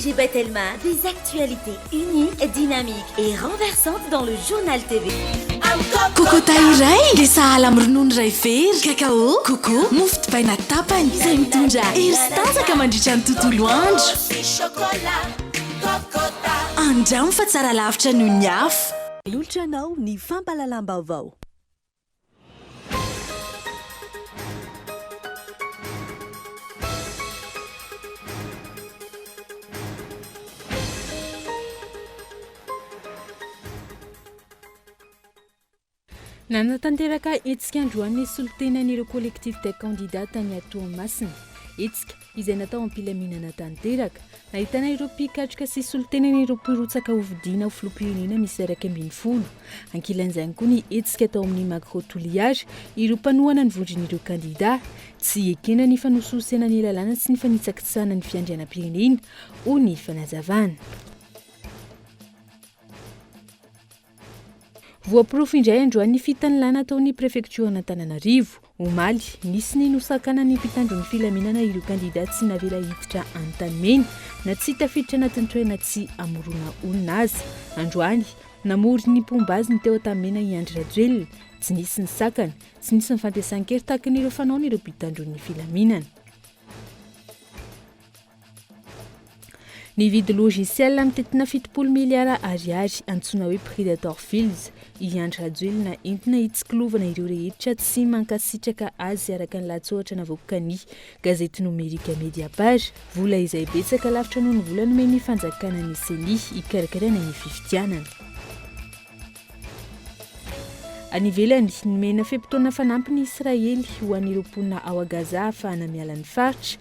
J'ai Batelma, des actualités uniques, dynamiques et renversantes dans le journal TV. Kokota iray dia sahala amin'ny ronono iray very, kakao, koko, mofo dipaina tapany, izay mitondra hery sy tanjaka mandritra ny tontolo andro. Andramo fa tsara lavitra noho ny hafa. Manolotra anao ny fampahalalam-baovao. Nanatanteraka hetsika androany ny solontenan'ireo collectif des candidats tany Toamasina. Hetsika izay natao am-pilaminana tanteraka. Ahitana ireo mpikatroka sy solontenany ireo mpirotsaka hofidiana ho filoham-pirenena miisa iraika ambin'ny folo. Ankilan'izany koa ny hetsika tao amin'ny Macro Toliary, ireo mpanohana ny vondron'ireo kandidà. Tsy ekena ny fanosihosena ny lalàna sy ny fanitsakitsahana ny fiandrianam-pirenena, hoy ny fanazavana. Voaporofo indray androany ny fitanilana ataon'ny prefektioran'Antananarivo. Omaly, nisy ny nosakanan'ny mpitandro ny filaminana ireo kandida tsy navela hiditra antanimena na tsy tafiditra anatin'ny toerana tsy hamorona olona aza. Androany, namory ny mpomba azy ny teo Antanimena i Andry Rajoelina. Tsy nisy ny sakana, tsy nisy ny fantesan-kery tahaka ny ireo fanaon'ireo mpitandro ny filaminana. Nividy logiciel mitintina fitopolo miliara ariary, antsoina hoe Predator Files, i Andry Rajoelina entina hitsikilovana ireo rehetra tsy mankasitraka azy araka ny lahatsoratra navoakan'ny gazety nomerika Mediapart. Vola izay betsaka lavitra noho ny vola nomen'ny fanjakana ny ceni hikarakaraina ny fifidianana. Any ivelany, nomena fe-potoana fanampiny Israely ho an'ireo mponina ao Gaza ahafahana miala ny faritra.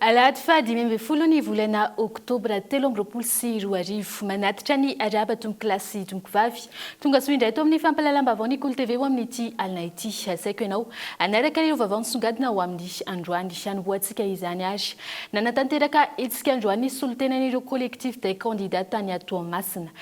Alahady faha dimy ambin'ny folo ny volana oktobra telo amby roapolo sy roa arivo. Manatitra ny arahaba tompoko lahy sy tompoko vavy. Tongasoa indray eto amin'ny fampahalalam-baovao ny Kolo TV ho amin'ity alina ity. Asaiko ianao hanaraka ireo vaovao nisongadina ho amin'ny androany. Hanombohantsika izany ary nanatanteraka hetsika androany ny solontenan'ireo Collectifs des candidats tany Toamasina.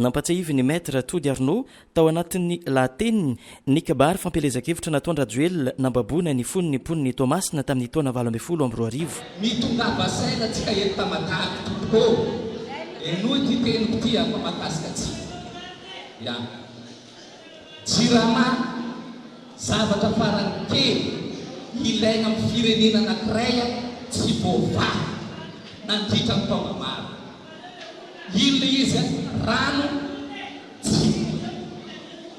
Nampatsiahivin'ny Maître Tody Arnaud tao anatin'ny lahateniny ny kabary fampielezan-kevitra nataon-dRajoelina nambaboana ny fony ny mponin'i Toamasina tamin'ny taona valo ambin'ny folo amby roa arivo. Mitongava saina atsika eto Tamatave tompoko ô! Henoy ity teniko ity a fa mahakasika atsika. Ya. Jirama, Zavatra farany kely ilaina amin'ny firenena anankiray tsy voavaha nandritra ny taona maro. Inona ilay izy? Rano? Tsia.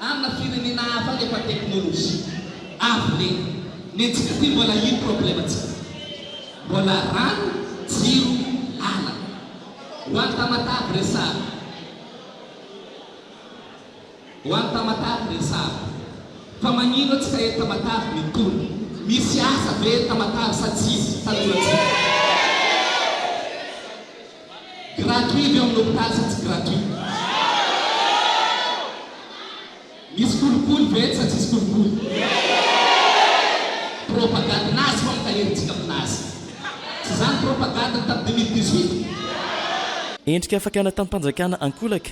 Amina firenena hafa any efa teknolojia avo lenta. Ny antsika aty mbola ino problemantsika? Mbola rano, jiro, lalana. Ho an'i Tamatave resaha. Ho any Tamatave resahako fa magnino atsika eto Tamatave mitony? Misy asa ve eto Tamatave sa tsisy? Tanora tsika. Gratuit ve amin'ny hopitaly sa tsy gratuit? Misy kolikoly ve eto sa tsisy kolikoly? Propagande nazy fa mitahiry antsika amin'ny nazy. Tsy izany propagande-ny tamin'ny deux mille dix-huit? Endrika fakana tamim-panjakana ankolaka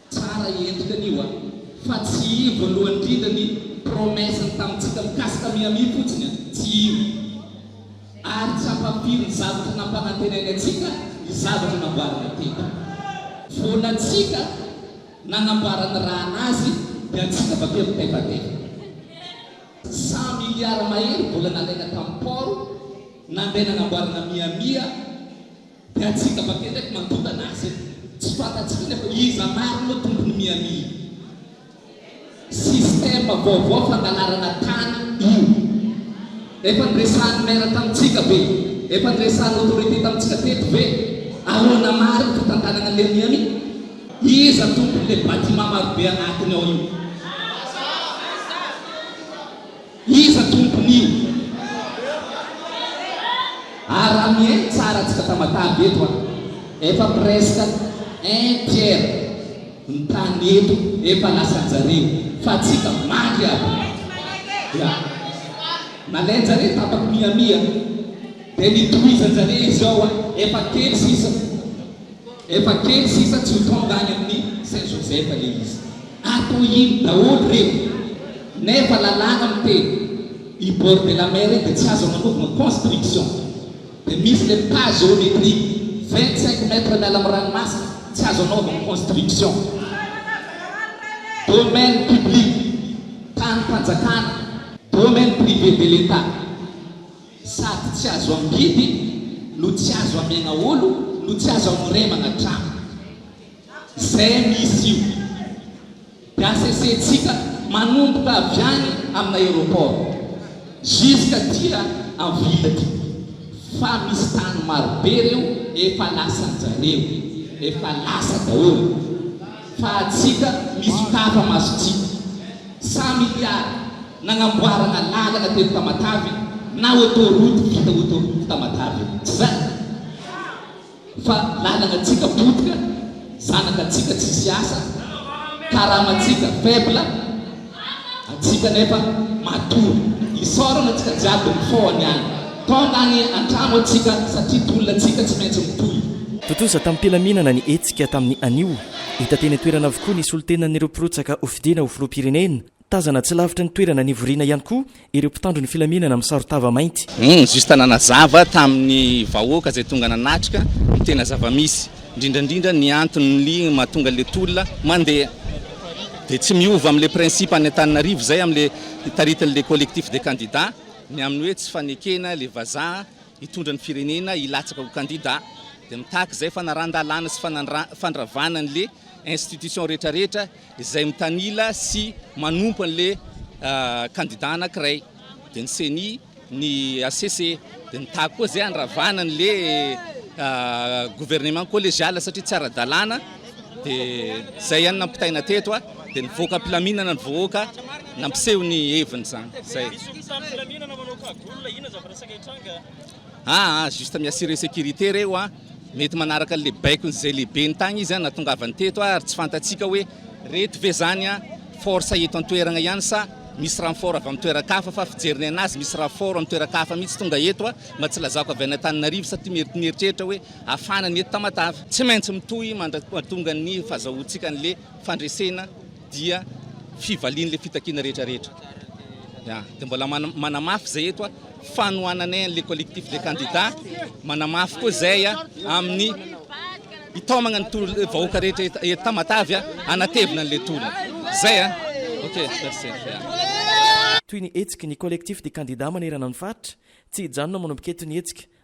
Tsara i endrika anio a! Fa tsy io voalohany indrindra ny promesse-ny tamintsika mikasika Miami fotsiny a! Tsy io! Ary tsy ampampiry ny zavatra nampanantenainy antsika ny zavatra namboarina teto foana antsika nanambara ny rahana azy dia antsika avy akeo mitefatefa. Cent milliards mahery vola nalaina tamin'ny port nandeha nanamboarana Miami a! Dia antsika avake ndraiky mandondana azy e! Tsy fantatsika anefa iza marina hoe tompon'i Miami io. Système vaovao fangalarana tany io. Efa niresahan'ny maire tamintsika ve? Efa niresahan'ny autorité tamintsika teto ve? Ahoana marina ny fitantanana an'ilay Miami? Iza tompon'ilay bâtiment marobe anatiny ao io? Iza tompon'io? Ary raha mihaino tsara antsika Tamatave eto a! Efa presque un tiers ny tany eto efa lasanjareo fa antsika mandry aby! Ya! Nalainjareo tapaky Miami a! Dia nitohizanjareo izy ao a! Efa kely sisa! Efa kely sisa tsy ho tonga any amin'ny Saint Joseph le izy. Ato iny daholo reny nefa lalàna miteny i bord de la mer iny dia tsy azo agnanaovana construction dia misy le pas géométrique vingt cinq mètres miala amin'ny ranomasina tsy azo anaovana construction domaine public tanim-panjakana domaine privé de l'Etat. Sady tsy azo amidy no tsy azo amena olo no tsy azo amoremana trano. Zay misy io de asesentsika manomboka avy any amina aeroport jusqu'à dia en ville aty fa misy tany marobe reo efa lasanjareo efa lasa daholo fa atsika misokafa masotsika. Cent milliards Nagnamboarana lalana teto Tamatave na autoroute vita autoroute Tamatave tsy zany? Fa lalanan-tsika potika, zanakan-tsika tsisy asa, karaman-tsika faible, antsika anefa matory. Isaorana antsika jiaby nifoha niala tonga any antrano antsika satria tolona antsika tsy maintsy mitohy. Tontosa tamim-pilaminana ny hetsika tamin'ny anio. Hita teny an-toerana avokoa ny solontenan'ireo mpirotsaka hofidiana ho filoham-pirenena Tazana tsy lavitra ny toerana nivoriana ihany koa ireo mpitandro ny filaminana misaro-tava mainty. Ny justa nanazava tamin'ny vahoaka izay tonga nanatrika ny tena zava-misy, indrindra indrindra ny anton'ly mahatonga ilay tolona mandeha. Dia tsy miova amin'ilay principe any Antananarivo izay amin'ilay taritin'ilay collectif des candidats ny amin'ny hoe tsy fanekena ilay vazaha hitondra ny firenena hilatsaka ho kandida. Dia mitaky izay fanaran-dalàna sy fandravana an'ilay institution rehetra rehetra izay mitanila sy manompo an'le kandida anakiray de ny ceni ny HCC de ny tac koa zay andravana an'le gouvernement collegial satria tsy ara-dalàna de zay ihany nampitaina teto a de nivoaka am-pilaminana ny vohoaka nampiseho ny heviny zany zay ah juste mi-assurer sécurité reo an Mety manaraka an'ilay baikon'izay lehibeny tagny izy nahatongavany teto ary tsy fantatsika hoe reto ve zany force eto an-toeragna ihany sa misy renfort avy amin'ny toeran-kafa fa fijerinay anazy misy renfort amin'ny toeran-kafa mihitsy tonga eto mba tsy lazako avy any Antananarivo sa ty mety mieritreritra hoe hafana ny eto Tamatave. Tsy maintsy mitohy mandratonga ny fazahoantsika an'le fandresena. dia fivalian'ilay fitakiana rehetra rehetra ya dia mbola manamafy izay eto fanohananay an'ilay collectif des candidats manamafy koa izay amin'ny hitaomagna ny tolo vahoaka rehetra eto Tamatavy hanatevina an'ilay tolona izay a ok merci toy ny hetsiky ny collectif des candidats manerana ny faritra tsy hijanona manao-piketo ny hetsika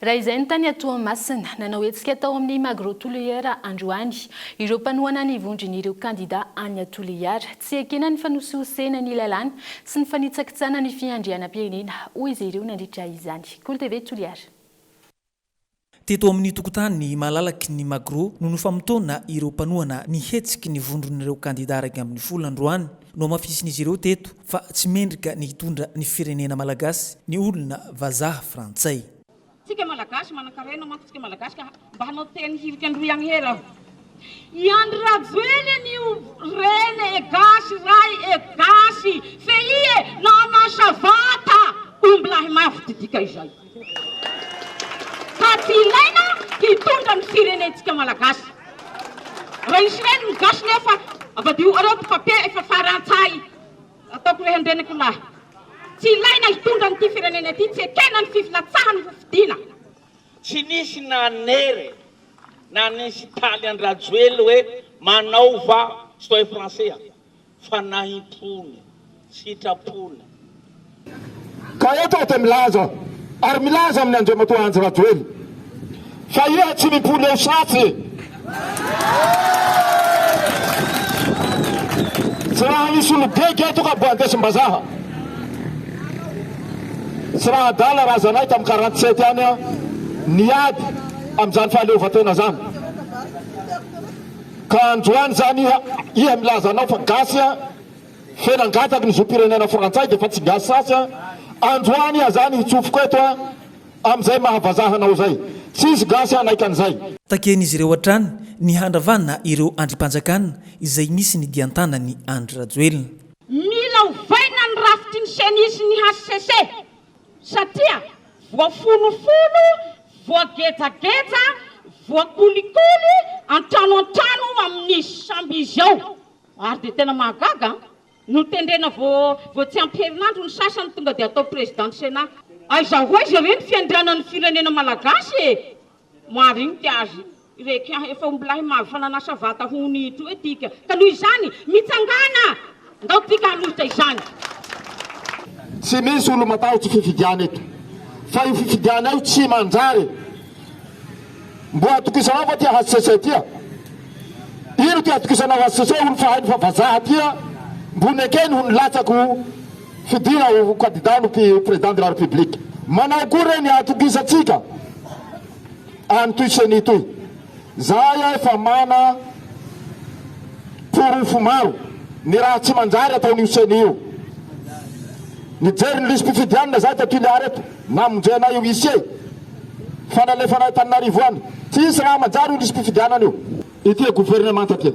Raha izay ny tany Toamasina. Nanao hetsika tao amin'ny Magro Toliara androany ireo mpanohana ny vondron'ireo kandida any Toliara. Tsy ekena ny fanosihosena ny lalàna sy ny fanitsakitsahana ny fiandrianam-pirenena, hoy izy ireo nandritra izany. Kolo TV Toliara. Teto amin'ny tokontany malalaky ny Magro no nofamotoana ireo mpanohana ny hetsiky ny vondron'ireo kandida iraika ambin'ny folo androany. Nohamafisin'izy ireo teto Fa tsy mendrika ny hitondra ny firenena malagasy ny olona vazaha frantsay. Tsika malagasy manankarena manko tsika malagasy ka mba hanao teny hirika androy ihany hery aho. I Andry Rajoely anio rene e gasy ray e gasy fehie nanasa vata ombilahy mafy didika izay. Fa tsy ilaina hitondra ny firenentsika malagasy. Raisina eny ny gasy nefa avadiho areo ty papier efa farantsay ataoko reha andreniko lahy. Tsy ilaina hitondra an'ity firenena ity tsy ekena ny fifilatsahany ho fidiana. Tsy nisy nanery na nisy taly an-dRajoely hoe manaova soin français. fanahim-pony, sitrapony. Ka eto aho dia milaza ary milaza amin'i Andriamatoa Andry Rajoely fa iha tsy mimpoly eo satsy tsy raha misy olo-bega eto ka mbo andesim-bazaha tsy raha adala raha zanay tamin'ny quarante sept ihany niady amin'izany fahaleovantena izany. Ka androany zany iha iha milaza anao fa gasy an, fe nangataky ny zom-pirenena frantsay de fa tsy gasy sasy an, androany iha zany hitsofoko eto an, amizay maha vazaha anao zay. Tsisy gasy hanaiky anizay. Takian'izy ireo hatrany ny handravana ireo andrimpanjakana izay misy ny dian-tanan'i Andry Rajoelina. Mila ovaina ny rafitry ny Ceni sy ny hcc Satria voafonofono, voagejageja, voakolikoly an-trano an-trano amin'ny sambo izy ao. Ary dia tena mahagaga an! Notendrena vao vao tsy ampy herinandro ny sasany tonga dia atao Président du Sénat. Aiza ho aiza re ny fiandrianan'ny firenena malagasy e! Marinika azy reke ah efa ombilahy maro fa nanasa vata ho ny ito e tika ka noho izany mitsangàna ndao tika hanolotra izany. Tsy misy olo matahotsy fifidiana eto fa io fifidiana io tsy manjary mbo atokisanao va ty hcc ty a? Ino ty atokisanao hcc olo fahainy fa vazaha ty a? Mbo nekeny ho nilatsako fidiana ho kandida ny Président de la République. Manao akory re ny hatokisantsika an ity ceni ity. Zahay efa mana porofo maro ny raha tsy manjary ataon'io ceni io. Nijery ny lisi-pifidianana zahay tao Toliara eto, namonjena io huissier fa nalefanay Antananarivo any. Tsy hisy raha manjary io lisi-pifidianana io. Ity gouvernemanta ity.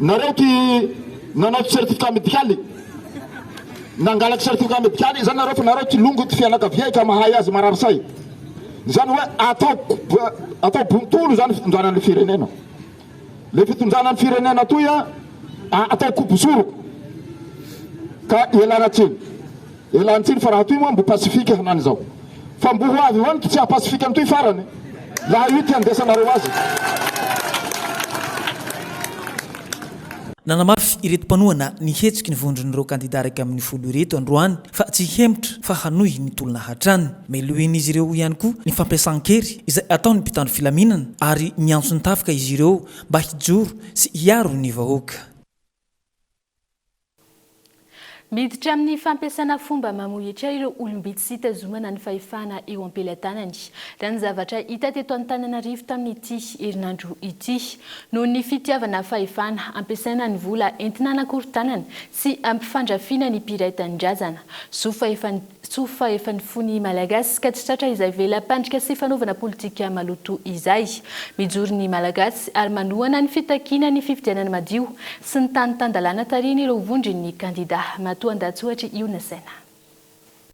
Nareo ty nanao certificat médical, nangalatra certificat médical izany nareo fa nareo ty longo ty fianakavia efa mahay azy marary saina. Izany hoe atao atao bontolo izany fitondrana ny firenena. Le fitondrana ny firenena toy atao kobo soroko ka ialana tsiny. Elan tsiny fa raha toy moa mbo pasifika hanany izao fa mbo ho avy ho any ky tsy haha pasifika antoy farany laha io ty andesanareo azy. Nanamafy ireto mpanohana ny hetsiky ny vondron'ireo kandida iraika ambin'ny folo ireto androany fa tsy hihemotra fa hanohy ny tolona hatrany. Melohin'izy ireo ihany koa ny fampiasan-kery izay ataon'ny mpitandro filaminana ary miantso ny tafika izy ireo mba hijoro sy hiaro ny vahoaka. Miditra amin'ny fampiasana fomba mamohehitra ireo olom-bitsy sy hitazomana ny fahefana eo am-pelatanany, raha ny zavatra hita teto Antananarivo tamin'ity herinandro ity. Noho ny fitiavana fahefana, ampiasaina ny vola entina hanakorontanana sy hampifandrafiana ny mpiray tanindrazana, zo fahefan'ny. Tsoa fa efa nifoha ny Malagasy ka tsy tratra izay vela-pandrika sy fanaovana politika maloto izay. Mijoro ny Malagasy ary manohana ny fitakiana ny fifidianana madio sy ny tany tan-dalàna tarihin'ireo vondron'ny kandidà matoan-dahatsohatr'i Io Nasaina.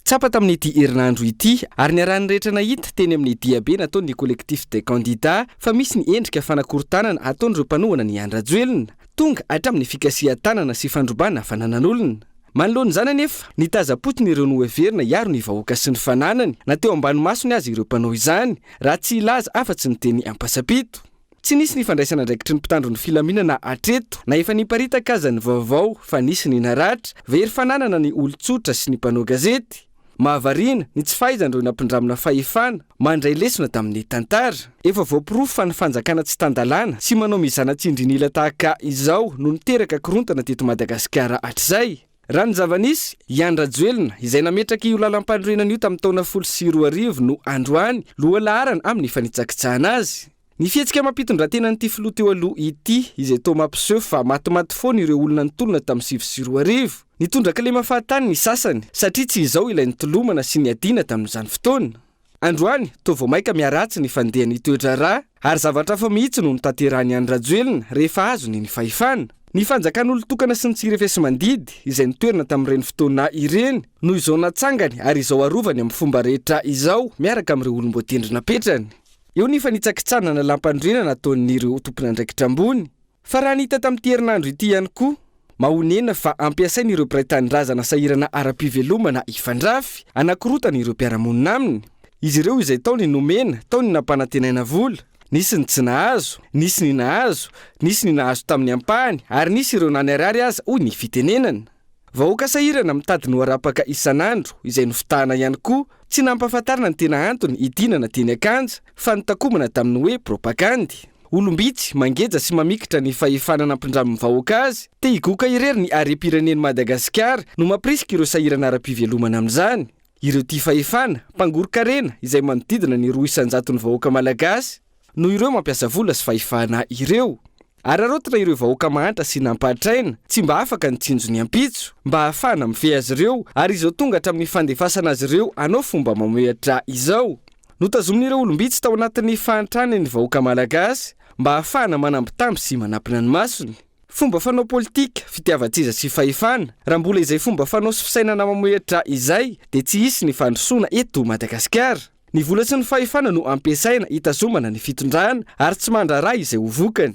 Tsapa tamin'ity herinandro ity ary niarahan'ny rehetra nahita teny amin'ny diabe nataon'ny Collectif des Candidats fa misy ny endrika fanakorontanana ataon'ireo mpanohana ny Andry Rajoelina, tonga hatramin'ny fikasihan-tanana sy fandrobana fananan'olona. Manoloana izany anefa, nitazam-potony ireo noheverina hiaro ny vahoaka sy ny fananany, na teo ambany masony aza ireo mpanao izany, raha tsy hilaza afa-tsy ny teny ampasapito. Tsy nisy ny fandraisana andraikitry ny mpitandro ny filaminana hatreto, na efa niparitaka aza ny vaovao fa nisy ny naratra, very fananana ny olon-tsotra sy ny mpanao gazety. Mahavariana ny tsy fahaizan'ireo nampindramina fahefana mandray lesona tamin'ny tantara. Efa voaporofo fa ny fanjakana tsy tan-dalàna sy manao mizana tsindrin'ila tahaka izao no niteraka korontana teto Madagasikara hatrizay. Raha ny zava-nisy, i Andry Rajoelina, izay nametraka io lalampanorenana io tamin'ny taona folo sy roa arivo no androany loha laharana amin'ny fanitsakitsahana azy. Ny fihetsika amam-pitondratenan'ity filoha teo aloha ity, izay toa mampiseho fa matimaty foana ireo olona nitolona tamin'ny sivy sy roa arivo. Nitondra kilema fahatany ny sasany, satria tsy izao ilay nitolomana sy niadiana tamin'izany fotoana. Androany, toa vao mainka miharatsy ny fandehan'ny toe-draharaha, ary zavatra hafa mihitsy no notanterahin'i Andry Rajoelina rehefa azony ny fahefana. Ny fanjakan'olon-tokana sy ny tsirefesimandidy, izay nitoerana tamin'ireny fotoana ireny, no izao natsangany ary izao arovany amin'ny fomba rehetra izao, miaraka amin'ireo olom-boatendry napetrany. Eo ny fanitsakitsanana lampanorenana ataon'ireo tompon'andraikitra ambony. Fa raha ny hita tamin'ity herinandro ity ihany koa, mahonena fa ampiasain'ireo mpiray tanindrazana sahirana ara-pivelomana hifandrafy, hanakorotana ireo mpiara-monina aminy. Izy ireo izay tao ny nomena, tao ny nampanantenaina vola, nisy ny tsy nahazo, nisy ny nahazo, nisy ny nahazo tamin'ny ampahany ary nisy ireo na niharihary aza, hoy ny fitenenana. Vahoaka sahirana mitady ny ho arapaka isan'andro izay nofitahana ihany koa, tsy nampahafantarina ny tena antony hidinana teny Akanja fa notakomana tamin'ny hoe propagandy. Olom-bitsy, mangeja sy mamikitra ny fahefana nampidramin'ny vahoaka azy te higoka irery ny harem-pirenen'i Madagasikara no mampirisika ireo sahirana ara-pivelomana amin'izany. Ireo tia fahefana, mpangoron-karena izay manodidina ny roa isan-jaton'ny vahoaka malagasy, Noho ireo mampiasa vola sy fahefana ireo. Araraotina ireo vahoaka mahantra sy nampahatraina, tsy mba afaka ny tsinjo ny ampitso, mba ahafahana mifehy azy ireo, ary izao tonga hatramin'ny fandefasana azy ireo hanao fomba mamohehatra izao. Notazomin'ireo olom-bitsy tao anatin'ny fahantrany ny vahoaka malagasy, mba ahafahana manambitamby sy manampina ny masony. Fomba fanao politika, fitiavan-tseza sy fahefana, raha mbola izay fomba fanao sy fisainana mamohehatra izay, dia tsy hisy ny fandrosoana eto Madagasikara. Ny vola sy ny fahefana no ampiasaina hitazomana ny fitondrana ary tsy mandrara izay ho vokany.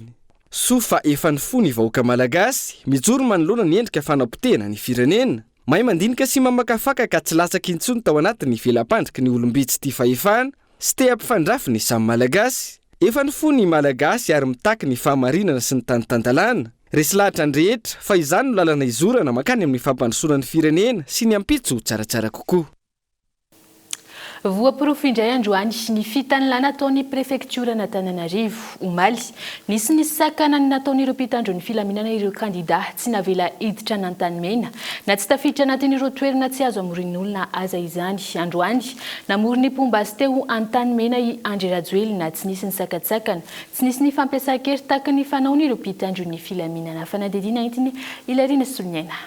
Soa fa efa ny fo ny vahoaka Malagasy mijoro manoloana ny endrika fanapotehana ny firenena. Mahay mandinika sy mamakafaka ka tsy latsaky intsony tao anatin'ny vela-pandriky ny olom-bitsy tia fahefana sy te hampifandrafy ny samy Malagasy. Efa ny fo ny Malagasy ary mitaky ny fahamarinana sy ny tany tan-dalàna. Resy lahatra ny rehetra fa izany no lalana izorana mankany amin'ny fampandrosoana ny firenena sy ny ampitso ho tsaratsara kokoa. Voaporofo indray androany ny fitanilà nataon'ny prefektioran'Antananarivo. Omaly, nisy ny sakanany nataon'ireo mpitandro ny filaminana ireo kandidà tsy navela hiditra an'Antanimena na tsy tafiditra anatin'ireo toerana tsy azo amorian'olona aza izany. Androany, namory ny mpomba azy teo Antanimena i Andry Rajoelina tsy nisy nisakantsakana, tsy nisy ny fampiasan-kery takin'ny fanaony ireo mpitandro ny filaminana. Fanadihadiana entiny i Larine Soloniaina.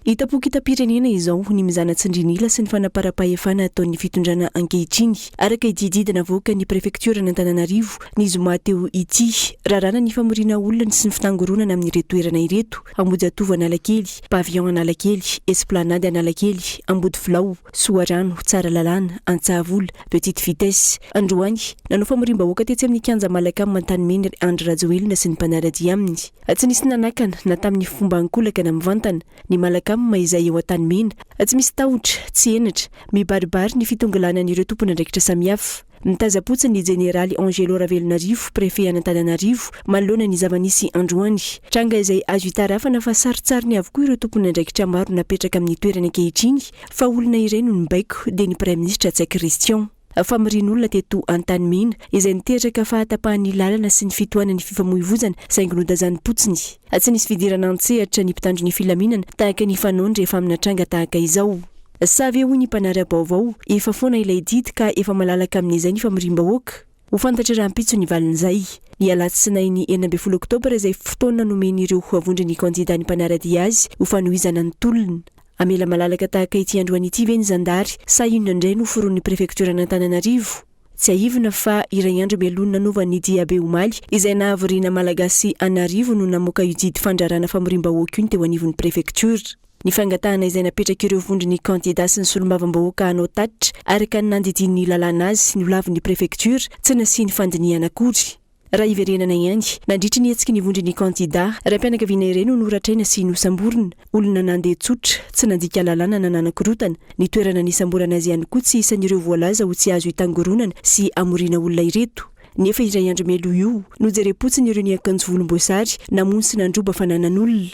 Hita pokitam-pirenena izao ny mizana tsindrin'ila sy ny fanaparam-pahefana ataon'ny fitondrana ankehitriny, araka ity didy navoakan'ny prefektioran'Antananarivo ny zoma teo ity. Raràna ny famoriana olona sy ny fitangoronana amin'ireto toerana ireto, Ambohijatovo Analakely, Pavillon Analakely, Esplanade Analakely, Ambodifilao, Soarano, Tsaralalàna, Antsahavola, Petite Vitesse. Androany, nanao famoriam-bahoaka tetsy amin'ny Kianja Malacam Antanimena Andry Rajoelina sy ny mpanara-dia aminy. Tsy nisy nanakana na tamin'ny fomba ankolaka na mivantana, ny Malakama izay eo an-tanimena, tsy misy tahotra, tsy henatra, mibaribary ny fitongilanan'ireo tompon'andraikitra samihafa. Nitazam-potsiny ny Jeneraly Angelo Ravelonarivo, Prefet an'Antananarivo, manoloana ny zava-nisy androany. Tranga izay azo itarafana fa sarintsariny avokoa ireo tompon'andraikitra maro napetraka amin'ny toerany ankehitriny fa olona iray no nibaiko, dia ny Praiminisitra Ntsay Christian. famorian'olona teto Antanimena, izay niteraka fahatapahan'ny lalana sy ny fitohanan'ny fifamoivoizana saingy nodazanimpotsiny. Tsy nisy fidirana an-tsehatra ny mpitandro ny filaminana tahaka ny fanaony rehefa amina tranga tahaka izao. Sa ve hoy ny mpanara-baovao, efa foana ilay didy ka efa malalaka amin'izay ny famoriam-bahoaka? Ho fantatra rahampitso ny valin'izay. Ny alatsinainy enina ambin'ny folo oktobra izay fotoana nomen'ireo vondron'ny kandida ny mpanara-dia azy ho fanohizana ny tolona. Hamela malalaka tahaka ity androany ity ve ny zandary sa inona indray no foron'ny prefektioran'Antananarivo? Tsiahivina fa iray andro mialoha ny nanovan'ny diabe omaly izay nahavoriana Malagasy an'arivo no namoaka io didy fandrarana famoriam-bahoaka io ny teo anivon'ny prefektiora. Ny fangatahana izay napetrak'ireo vondron'ny kandidà sy ny solombavambahoaka hanao tatitra araka ny nandidian'ny lalàna azy no lavin'ny prefektiora tsy nasiany fandinihana akory. Raha hiverenana ihany, nandritry ny hetsiky ny vondron'ny kandidà, raim-pianakaviana iray no noratraina sy nosamborina. Olona nandeha tsotra, tsy nandika lalàna na nanakorontana. Ny toerana nisamborana azy ihany koa tsy isan'ireo voalaza ho tsy azo itangoronana sy amoriana olona ireto. Nefa indray andro meloa io, nojerem-potsiny ireo niakanjo volomboasary, namono sy nandroba fananan'olona.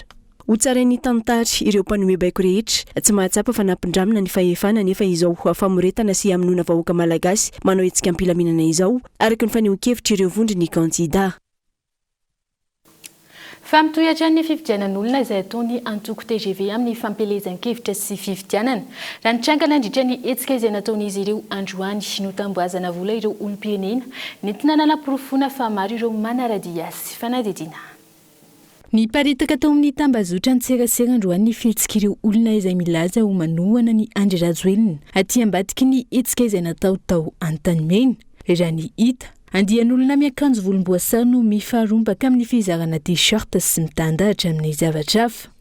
Ho tsarain'ny tantara, ireo mpanoe baiko rehetra, tsy mahatsapa fa nampindramina ny fahefana anefa izao famoretana sy hamonoana vahoaka malagasy manao hetsika am-pilaminana izao, araka ny fanehoan-kevitr'ireo vondron'ny kandida. Fa mitohy hatrany ny fifidianan'olona izay ataon'ny antoko tgv amin'ny fampielezan-kevitra sy fifidianana. Raha nitranga nandritra ny hetsika izay nataon'izy ireo androany, notambohazana vola ireo olom-pirenena nentina nanaporofoana fa maro ireo manara-dia sy fanadihadiana. Niparitaka tao amin'ny tambazotran-tserasera androany ny fihetsik'ireo olona izay milaza ho manohana an'i Andry Rajoelina aty ambadiky ny hetsika izay natao tao Antanimena. Raha ny hita, andian'olona miakanjo volomboasary no mifarombaka amin'ny fizarana T-shirt sy mitandahatra amin'ny zavatra hafa.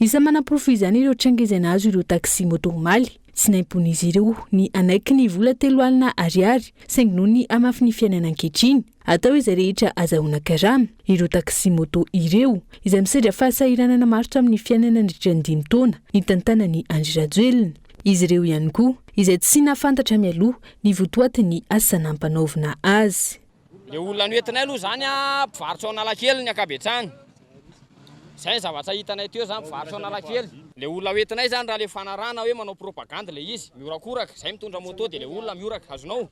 Isan'ny manaporofo izany ireo tranga izay nahazo ireo taxi moto omaly. Tsy naimponin'izy ireo ny hanaiky ny vola telo alina ariary saingy noho ny hamafin'ny fiainana ankehitriny, Atao izay rehetra azahoana karama ireo taxi-moto ireo, izay misedra fahasahiranana maro tamin'ny fiainana nandritra ny dimy taona nitantanan'i Andry Rajoelina. Izy ireo ihany koa izay tsy nahafantatra mialoha ny votoatin'ny asa nampanaovina azy. Ilay olona noentinay aloha izany mpivarotra ao Analakely ny ankabetsahany. Izay ny zavatra hitanay teo izany, mpivarotra ao Analakely. Ilay olona hoentinay izany raha ilay fanarahana hoe manao propagandy ilay izy, mihorakoraka, izay mitondra moto dia ilay olona mihorak, azonao.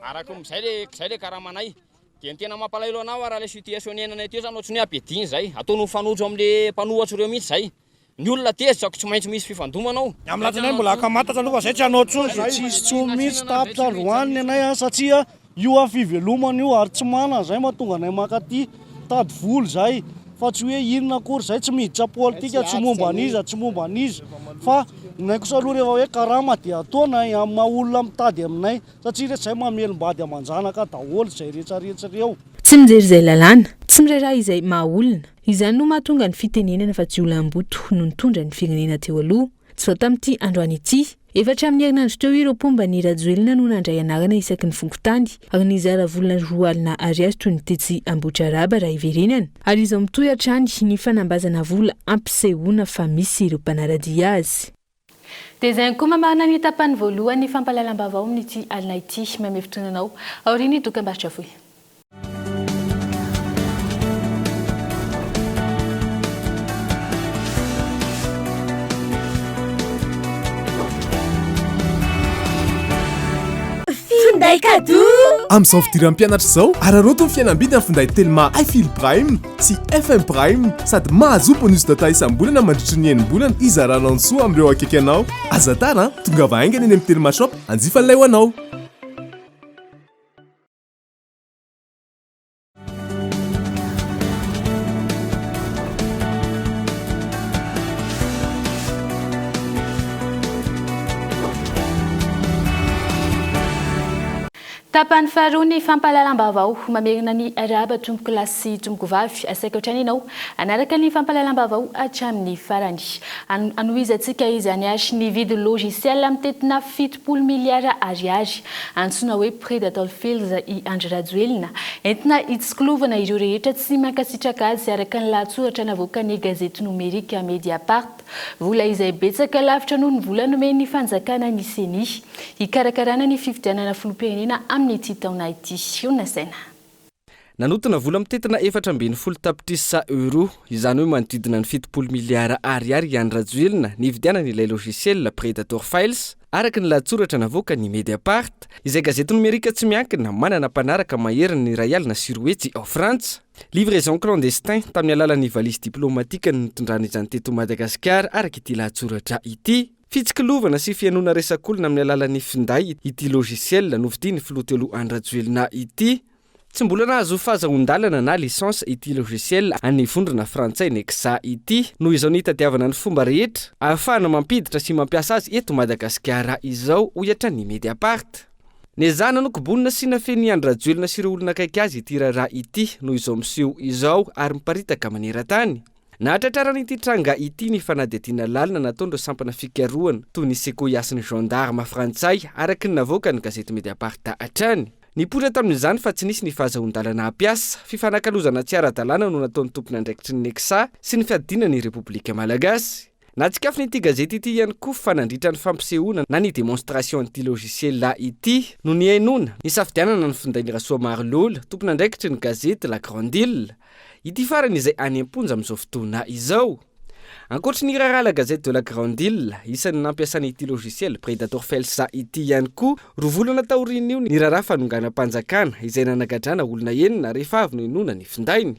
Araka ny izay le izay le karamanay. Dia ny tena mampalahelo anao ara le situation niainanay teo zany ohatrany hoe ampidiny izay. Ataony mifanojo amin'le mpanohatra ireo mihitsy izay. Ny olona tezitra ko tsy maintsy misy fifandomana ao. Ny amin'ny latinay mbola akamatatra aloha fa izay tsy hanao intsony dia tsy hisy intsony mihitsy tapitra androany ny anay satria io an fivelomana io ary tsy manana izay mahatonga anay mankaty Mitady vola izay fa tsy hoe inona akory izay, tsy miditra politika, tsy momba an'iza, tsy momba an'iza fa aminay kosa aloha rehefa hoe karama dia ataonay amin'ny maha olona mitady aminay satria rehetra izay mamelom-bady aman-janaka daholo izay rehetrarehetra ireo. Tsy mijery izay lalàna, tsy miray rà izay maha olona. Izany no mahatonga ny fitenenana fa jiolahimboto no nitondra ny firenena teo aloha. Tsy vao tamin'ity androany ity. Efa hatramin'ny herinandro teo ireo mpomba an'i Rajoelina no nandray anarana isaky ny fokontany ary nizara vola roa alina ariary toy ny tetsy Ambohitraraba raha hiverenana ary izao mitohy hatrany ny fanambazana vola hampisehoana fa misy ireo mpanara-dia azy. Dia izay ankoho mamarana ny tapany voalohan'ny fampahalalam-baovao amin'ity alina ity. Mamehy fotoana anao aorian'ny dokambarotra fohy. Finday cadeau Amin'izao fidiran'ny mpianatra izao, araraoty ny fihenam-bidy amin'ny finday Telma iFeel Prime sy FM Prime sady mahazoa bonus data isam-bolana mandritry ny enim-bolana hizaranao ny soa amin'ireo akaiky anao. Aza tara an! Tongava haingana eny amin'ny Telma Shop hanjifa an'ilay ho anao. Tapany faharoa ny fampahalalam-baovao. Mamerina ny arahaba tompoko lahy sy tompoko vavy. Asaiko hatrany ianao hanaraka ny fampahalalam-baovao hatramin'ny farany. Hanohizantsika izany àry ny vidin'ny logiciel mitentina fito. Folo miliara ariary, antsoina hoe prêt d'Atoll Fields i Andry Rajoelina, entina hitsikolovana ireo rehetra tsy mankasitraka azy araka ny lahatsoratra navoakan'ny gazety nomerika Mediapart. Vola izay betsaka lavitra noho ny vola nomen'ny fanjakana ny Ceni, hikarakarana ny fifidianana filoham-pirenena amin'ity taona ity. Eo nasaina. Nanotona vola mitentina efatra ambin'ny folo tapitrisa euros, izany hoe manodidina ny fitopolo miliara ariary i Andry Rajoelina nividianany ilay logiciel Predator Files, araka ny lahatsoratra navoakan'ny Mediapart, izay gazety nomerika tsy miankina manana mpanaraka maherin'ny iray alina sy roa hetsy ao Frantsa. Livraison clandestin tamin'ny alalan'ny valizy diplaomatiaka no nitondrany izany teto Madagasikara, araka ity lahatsoratra ity. Fitsikilovana sy fihainoana resak'olona amin'ny alalan'ny finday ity logiciel novidian'ny filoha telo Andry Rajoelina ity. Tsy mbola nahazo fahazahoan-dalana na licence ity logiciel an'ny vondrona frantsay Nexa ity. Noho izao ny hitadiavana ny fomba rehetra ahafahana mampiditra sy mampiasa azy eto Madagasikara izao, hoy hatrany ny Mediapart. Nezahana nokobonina sy nafenin'i Andry Rajoelina sy ireo olona akaiky azy ity raharaha ity noho izao miseho izao ary miparitaka maneran-tany. Nahatratrarana ity tranga ity ny fanadihadiana lalina nataon'ireo sampana fikarohana toy ny Sequoia sy ny gendarmes frantsay, araka ny navoakan'ny gazety Mediapart hatrany. Nipoitra tamin'izany fa tsy nisy ny fahazahoan-dalana hampiasa, fifanakalozana tsy ara-dalàna no nataon'ny tompon'andraikitry ny Nexa sy ny fiadiana ny Repoblika Malagasy. Nahatsikafona ity gazety ity ihany koa fa nandritra ny fampisehoana na ny démonstration an'ity logiciel ity no nihainoana ny safidianana ny findain'i Rasoamarolola, tompon'andraikitry ny gazety La Grande Ile, ity farany izay any am-ponja amin'izao fotoana izao. Ankoatry ny raharaha La Gazette de la Grande Ile, isan'ny nampiasana ity logiciel Predator Files ity ihany koa, roa volana taorian'io ny raharaha fanonganam-panjakana izay nanagadrana olona enina rehefa avy nohenoina ny findainy.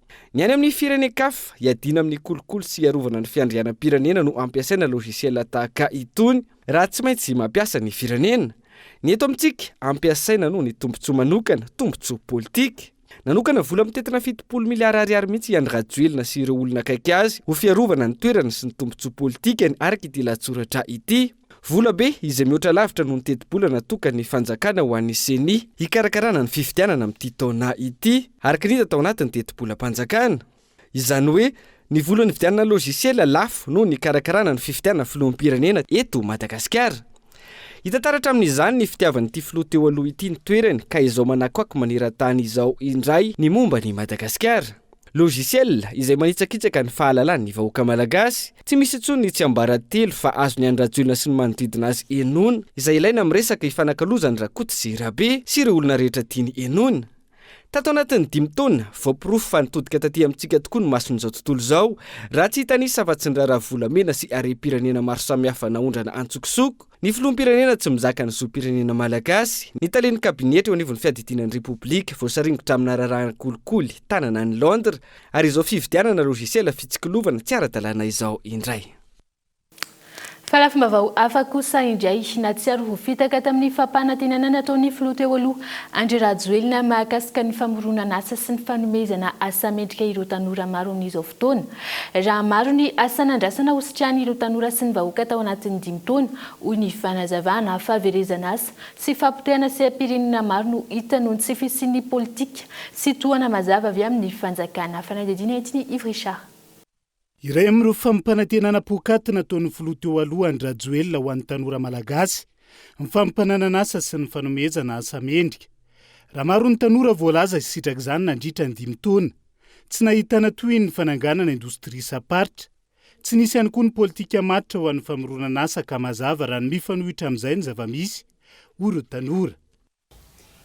Ny any amin'ny firenen-kafa, hiadiana amin'ny kolikoly sy hiarovana ny fiandrianam-pirenena no ampiasaina logiciel tahaka itony, raha tsy maintsy mampiasa ny firenena. Ny eto amintsika, ampiasaina noho ny tombontsoa manokana, tombontsoa politika. Nanokana vola mitentina fitopolo miliara ariary mihitsy i Andry Rajoelina sy ireo olona akaiky azy ho fiarovana ny toerany sy ny tombontsoa politikany araka ity lahatsoratra ity. Vola be izay mihoatra lavitra noho ny tetibola natokan'ny fanjakana ho an'ny Ceni hikarakarana ny fifidianana amin'ity taona ity, araka ny hita tao anatin'ny tetibolam-panjakana. Izany hoe ny vola nividianana logiciel lafo noho ny hikarakarana ny fifidianana filoham-pirenena eto Madagasikara. Hita taratra amin'izany ny fitiavan'ity filoha teo aloha ity ny toerany ka izao manakoako maneran-tany izao indray ny momba an'i Madagasikara. Logiciel izay manitsakitsaka ny fahalalan'ny vahoaka malagasy, tsy misy intsony ny tsiambaratelo fa azon'i Andry Rajoelina sy ny manodidina azy henoina izay ilaina amin'ny resaka hifanakalozan'i Rakoto sy Rabe sy ireo olona rehetra tiany henoina. Tato anatin'ny dimy taona, voaporofo fa nitodika taty amintsika tokoa ny mason'izao tontolo izao, raha tsy hitanisa afa-tsy ny raharaha volamena sy harem-pirenena maro samihafa naondrana antsokosoko, Ny Filoham-pirenena tsy mizaka ny zom-pirenena malagasy, ny talen'ny kabinetra eo anivon'ny fiadidiana ny Repoblika voasaringotra amina raharahan'ny kolikoly tanana any Londres, ary izao fividianana logiciel fitsikilovana tsy ara-dalàna izao indray. Fa lafim-baovao hafa kosa indray, nahatsiaro ho fitaka tamin'ny fampanantenana nataon'ny Filoha teo aloha, Andry Rajoelina, mahakasika ny famoronan'asa sy ny fanomezana asa mendrika ireo tanora maro amin'izao taona. Raha maro ny asa nandrasana ho sitranin'ireo tanora sy ny vahoaka tao anatin'ny dimy taona, hoy ny fanazavana, fahaverezan'asa sy fahapotehana seha-pirenena maro no hita noho ny tsy fisian'ny politika sy tohana mazava avy amin'ny fanjakana. Fanadihadiana entiny Yves Richard. Iray amin'ireo fampanantenana poakaty nataon'ny filoha teo aloha Andry Rajoelina ho an'ny tanora malagasy ny fampananana asa sy ny fanomezana asa mendrika. Raha maro ny tanora voalaza hisitrak'izany nandritra ny dimy taona, Tsy nahitana tohiny ny fananganana indostria isam-paritra. Tsy nisy ihany koa ny politika matotra ho an'ny famoronana asa ka mazava raha ny mifanohitra amin'izay ny zava-misy, hoy ireo tanora.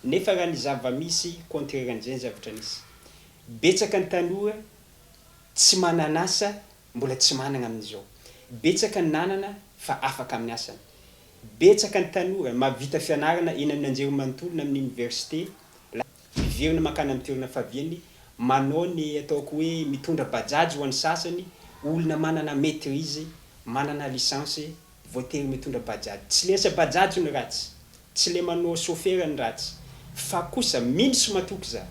Nefa raha ny zava-misy contraire an'izay ny zavatra nisy. Betsaka ny tanora tsy manan'asa mbola tsy manana amin'izao. Betsaka ny nanana fa afaka amin'ny asany. Betsaka ny tanora mahavita fianarana eny amin'ny anjerimanontolo na amin'ny oniversite. Miverina mankany amin'ny toerana faviany, manao ny ataoko hoe mitondra bajaj ho an'ny sasany, olona manana maitrise, manana licence, voatery mitondra bajaj. Tsy le asa bajaj ny ratsy, tsy le manao sofera ny ratsy, fa kosa mino sy matoky za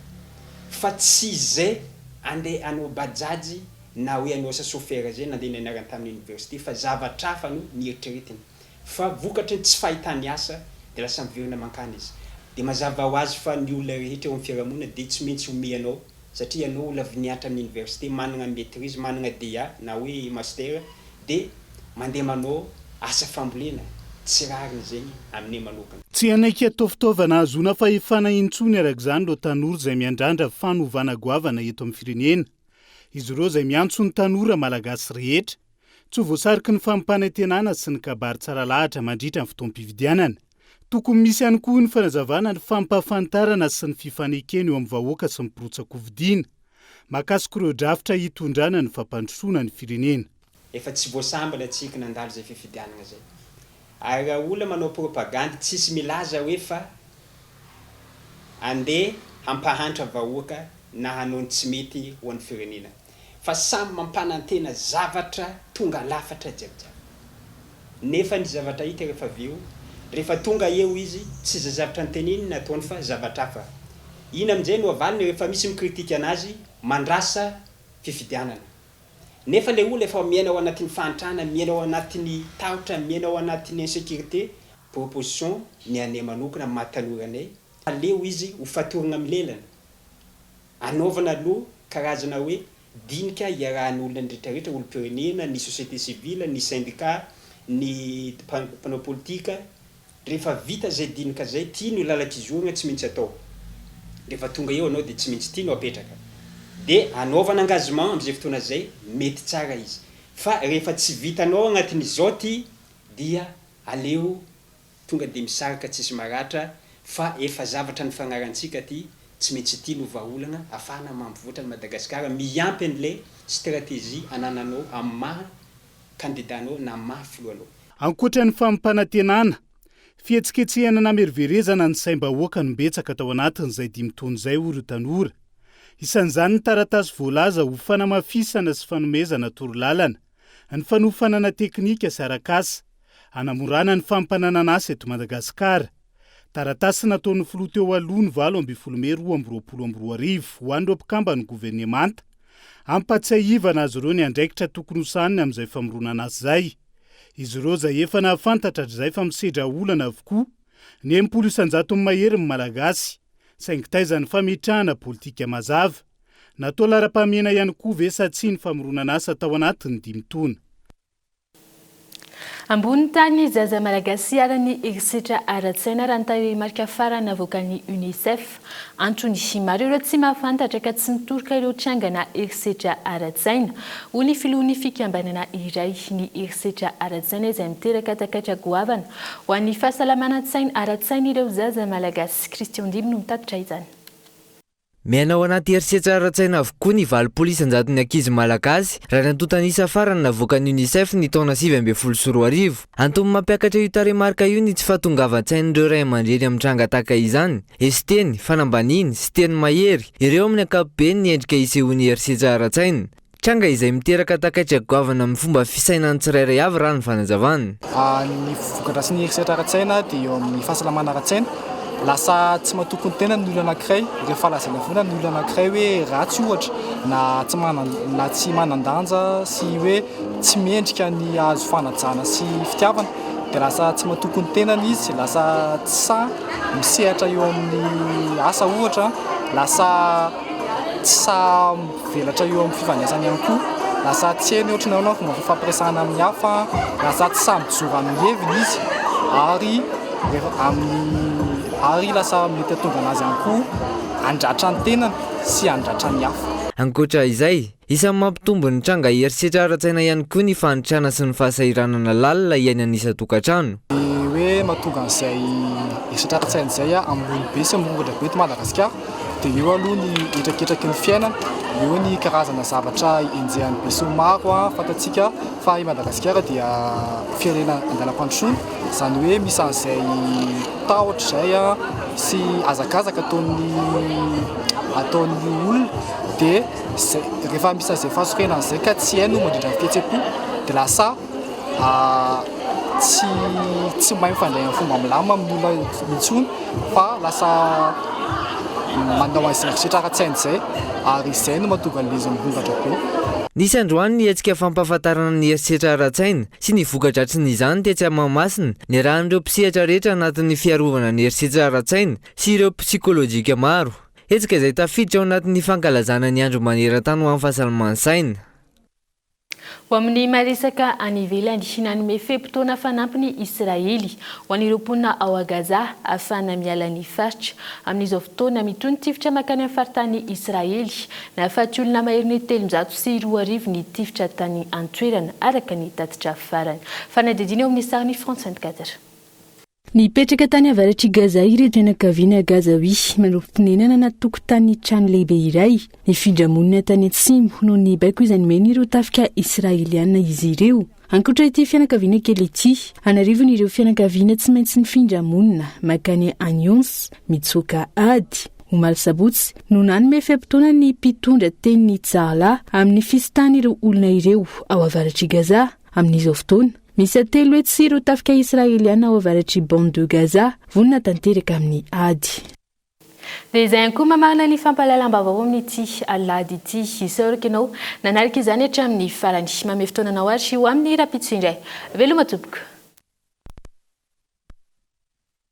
fa tsy ze andeha hanao bajaj na hoe hanao asa sofera ze nandeha nianarany tamin'ny université fa zavatr'hafa no nieritreretiny. Fa vokatry ny tsy fahitany asa dia lasa miverina mankany izy. Dia mazava ho azy fa ny olona rehetra eo amin'ny fiarahamonina dia tsy maintsy omey anao satria ianao olona avy niantra amin'ny université manana ny maîtrise, manana DEA na hoe master dia mandeha manao asa fambolena, tsy rariny izay aminay manokana. Tsy hanaiky atao fitaovana hahazoana fahefana intsony araka izany ireo tanora izay miandrandra fanovana goavana eto amin'ny firenena. Izy ireo izay miantso ny tanora Malagasy rehetra Tsy ho voasariky ny fampanantenana sy ny kabary tsara lahatra mandritra ny fotoam-pifidianana. Tokony misy ihany koa ny fanazavana ny fampahafantarana sy ny fifanekena eo amin'ny vahoaka sy ny mpirotsa-kofidina. Mahakasika ireo drafitra hitondrana ny fampandrosoana ny firenena. Efa tsy voasambana tsiky nandalo zay fifidianana zay ary ra olona manao propagandy tsisy milaza hoe fa andeha hampahantra vahoaka na hanao ny tsy mety ho an'ny firenena. fa samy mampanantena zavatra tonga lafatra jiabijiaby. Nefa ny zavatra hita rehefa avy eo, rehefa tonga eo izy, tsy izay zavtra noteneniny no ataony fa zavatra hafa. Iny amin'izay no avaliny rehefa misy mikritika anazy mandrasa fifidianana. Nefa ilay olona efa miaina ao anatin'ny fahantrana, miaina ao anatin'ny tahotra, miaina ao anatin'ny insécurité. Proposition ny anay manokana amin'ny maha tanora anay, aleo izy ho fatorana milelana. Anaovana aloha karazana hoe dinika iarahan'ny olona ny retraretra, olom-pirenena, ny société civile, ny syndicat, ny mpanao politika. Rehefa vita izay dinika izay, ity no lalan-kizorana tsy mintsy atao. Rehefa tonga eo anao dia tsy mintsy ity no apetraka. Dia anaovana engagement amin'izay fotoana izay, mety tsara izy. Fa rehefa tsy vitanao anatin'izao ity dia aleo tonga dia misarika tsisy maratra fa efa zavatra nifanarahantsika ty tsy maintsy ity no vahaolana afahana mampivoatra an'i Madagasikara miampy an'ilay stratégie anananao amin'ny maha kandida anao na maha filoha anao. Ankoatra ny fampanantenana, fihetsiketsehana nameroverezana ny saim-bahoaka no betsaka tao anatin'izay dimy taona izay hoy ireo tanora. Isan'izany ny taratasy voalaza ho fanamafisana sy fanomezana torolalana. Ny fanofanana teknika sy arak'asa, hanamorana ny fampananana asa eto Madagasikara. Taratasy nataon'ny filoha teo aloha ny valo ambin'ny folo mey roa amby roapolo amby roa arivo ho an'ireo mpikamban'ny governemanta, hampatsiahivana azy ireo ny andraikitra tokony ho sahaniny amin'izay famoronana asa izay. Izy ireo izay efa nahafantatra hatrizay fa misedra olana avokoa ny enimpolo isan-jatony mahery ny Malagasy, saingy taiza ny fametrahana politika mazava? Natao laharam-pahamehana ihany koa ve sa tsia ny famoronan'asa tao anatin'ny dimy taona? Ambony tany zaza Malagasy iharan'ny herisetra ara-tsaina raha ny tarehimarika farany navoakan'ny Unicef. Antony, maro ireo tsy mahafantatra ka tsy mitoroka ireo trangana herisetra ara-tsaina. Hoy ny filohan'ny fikambanana iray, ny herisetra ara-tsaina izay miteraka takaitra goavana ho an'ny fahasalamana an-tsaina ara-tsain'ireo zaza Malagasy. Christian Ndimby no mitatitra izany. Miaina ao anaty herisetra ara-tsaina avokoa ny valopolo isan-jaton'ny ankizy malagasy, raha ny antontan'isa farany navoakan'ny Unicef ny taona sivy ambin'ny folo sy roa arivo. Antony mampiakatra io tarehimarika io ny tsy fahatongavan-tsain'ireo ray aman-dreny amin'ny tranga tahaka izany. Hesiteny, fanambaniny, sy teny mahery, ireo amin'ny ankapobeny ny endrika isehoan'ny herisetra ara-tsaina. Tranga izay miteraka takaitra goavana amin'ny fomba fisainan'ny tsirairay avy raha ny fanazavana. Ny vokadrasin'ny herisetra ara-tsaina dia eo amin'ny fahasalamana ara-tsaina. Lasa tsy matoky ny tenany ny olona anankiray rehefa lazaina foana ny olona anankiray hoe ratsy ohatra na tsy manan- na tsy manan-danja sy hoe tsy mendrika ny hahazo fanajana sy fitiavana dia lasa tsy matoky ny tenany izy, lasa tsy sahy misehatra eo amin'ny asa ohatra, lasa tsy sahy Mivelatra eo amin'ny fifandraisana ihany koa. Lasa tsy heno ohatry ny ahoana ny fomba fifampiresahana amin'ny hafa, lasa tsy sahy mijoro amin'ny heviny izy ary amin'ny ary lasa mety hahatonga an'azy ihany koa handratra ny tenany sy handratra ny hafa. Ankoatra izay, isan'ny mampitombo ny tranga herisetra ara-tsaina ihany koa ny fanitrana sy ny fahasahiranana lalina iainan'ny isan-tokantrano. Ny hoe mahatonga an'izay herisetra ara-tsaina izay hamono be sy hamorongatra be eto Madagasikara Dia eo aloha ny hetraketraky ny fiainana, eo ny karazana zavatra enjehan'ny besinimaro. Fantatsika fa i Madagasikara dia firenena an-dalam-pandrosoana, izany hoe misy an'izay tahotra izay sy hazakazaka ataon'ny ataon'ny olona, dia izay rehefa misy an'izay fahasorenana izay ka tsy hay no mandrindra ny fihetseham-po dia lasa... tsy tsy mahay mifandray amin'ny fomba milamina amin'olona intsony fa lasa manao an'izay misetra ara-tsainy izay ary izay no mahatonga an'ilay izy mirongatra be. Nisy androany ny hetsika fampahafantarana ny herisetra ara-tsaina sy ny voka-dratsin'izany tetsy Mahamasina, niarahan'ireo mpisehatra rehetra anatin'ny fiarovana ny herisetra ara-tsaina sy ireo psikolojika maro. Hetsika izay tafiditra ao anatin'ny fankalazana ny andro maneran-tany ho an'ny fahasalaman-tsaina. Ho amin'ny maresaka any ivelany, nanome fe-potoana fanampy ny Israely ho an'ireo mponina ao Gaza ahafahana miala ny faritra. Amin'izao fotoana, mitohy ny tifitra mankany amin'ny faritanin'i Israely. Nahafaty olona maherin'ny telonjato sy roa arivo ny tifitra tany an-toerana, araka ny tatitra farany. Fanadihadiana eo amin'ny sahany France vingtquatre. Nipetraka tany avaratr'i Gaza ireto fianakaviana Gazaoui, manao fonenana anaty tokotanin'ny trano lehibe iray. Nifindra monina tany atsimo noho ny baiko izay nomen'ireo tafika Israeliana izy ireo. Ankoatra ity fianakaviana kely ity, an'arivony ireo fianakaviana tsy maintsy nifindra monina mankany Anyons, mitsoaka ady. Omaly sabotsy no nanome fe-potoana ny mpitondra teny ny Tzahla amin'ny fisitahan'ireo olona ireo ao avaratr'i Gaza. Amin'izao fotoana, miisa telo hetsy sy ireo tafika Israeliana ao avaratr'i Bande de Gaza, vonona tanteraka amin'ny ady. Dia izay ihany koa mamarana ny fampahalalam-baovao amin'ity alahady ity. Isaoriko ianao nanaraka izany hatramin'ny farany. Mamehy fotoana anao ary ho amin'ny rahampitso indray. Veloma tompoko.